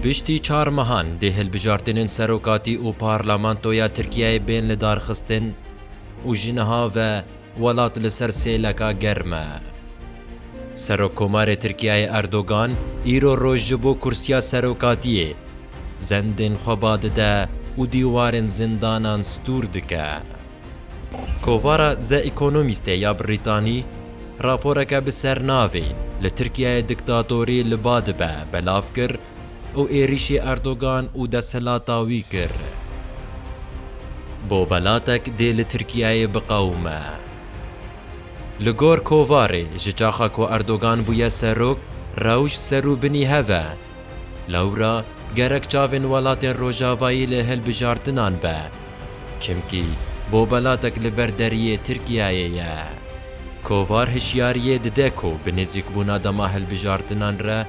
Piştî çar mehan dê hilbijartinên serokatî û parlamentoya Tirkiyeyê bên lidarxistin û ji niha ve welat li ser sêleka germ e. Serokkomarê Tirkiyeyê Erdogan îro roj ji bo kursiya serokatiyê zendên xwe ba dide û dîwarên zindanan stûr dike. Kovara The Economistê ya Brîtanî raporeke bi sernavê Li Tirkiyeyê diktatorî li ba dibe belav kir û êrîşê Erdogan û desthilata wî kir bo belatek dê li Tirkiyeyê biqewime. Li gor kovarê ji çaxa ku Erdogan bûye serok, rewş serû binî hev e, Lewra gerek çavên welatên rojavayî li hilbijartinan be. Çimkî bobelatek li ber deriyê Tirkiyeyê ye. Kovar hişyariyê dide ku bi nêzîkbûna dema hilbijartinan re,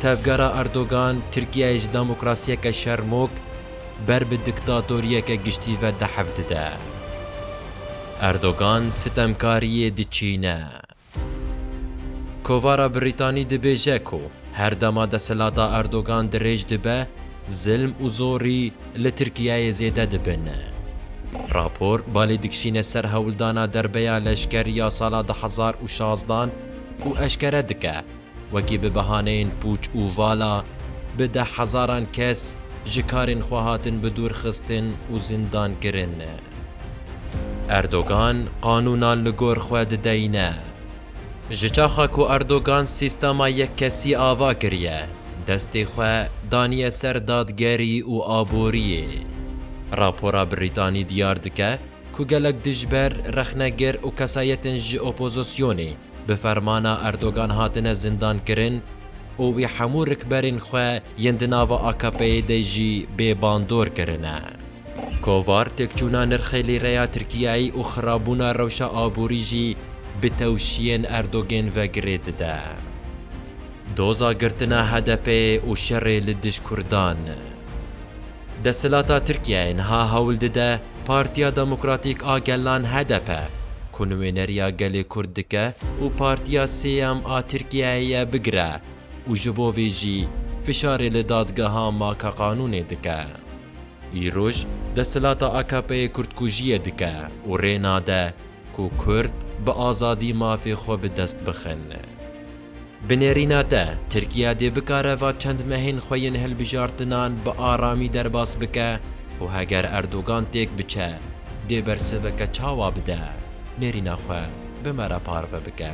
tevgera Erdogan Tirkiyeyê ji demokrasiyeke şermok ber bi diktatoriyeke giştî ve dehev dide. Erdogan sitemkariyê diçîne. Kovara Brîtanî dibêje ku her dema desthilata Erdogan dirêj dibe, zilm û zorî li Tirkiyeyê zêde dibin. Rapor balê dikişîne ser hewldana derbeya leşker ya sala du hezar û şazdan û eşkere dike, Wekî bi bihaneyên pûç û vala bi deh hezaran kes ji karên xwe hatin bidûrxistin û zindankirin. Erdogan qanûnan li gor xwe dideyne. Ji çaxa ku Erdogan sîstema yekkesî ava kiriye, destê xwe daniye ser dadgerî û aboriyê. Rapora Brîtanî diyar dike ku gelek dijber, rexnegir û kesayetên ji opozisyonê bi fermana Erdogan hatine zindankirin û wî hemû rikberên xwe yên di nava AKP'ê de jî bê bandor kirine. Kovar têkçûna nirxê lîreya Tirkiyeyê û xirabûna rewşa aborî jî bi tewşiyên Erdogên ve girê dide. Doza girtina HDP'ê û şerê li dij Kurdan. Desthilata Tirkiyeyê niha hewl dide Partiya Demokratîk a Gelan, hdp, ku nuêneriya gelê Kurd dike û partiya sêyem a Tirkiyeyê ye bigire û ji bo vê jî fişarê li dadgeha makeqanûnê dike. Îroj desthilata AKP'ê kurdkujiyê dike û rê nade ku Kurd bi azadî mafê xwe bi dest bixin. Bi nêrîna te, Tirkiye dê bikare va çend mehên xwe yên hilbijartinan bi aramî derbas bike û heger Erdogan têk biçe, dê bersiveke çawa bide, nêrîna xwe bi me re parve bike.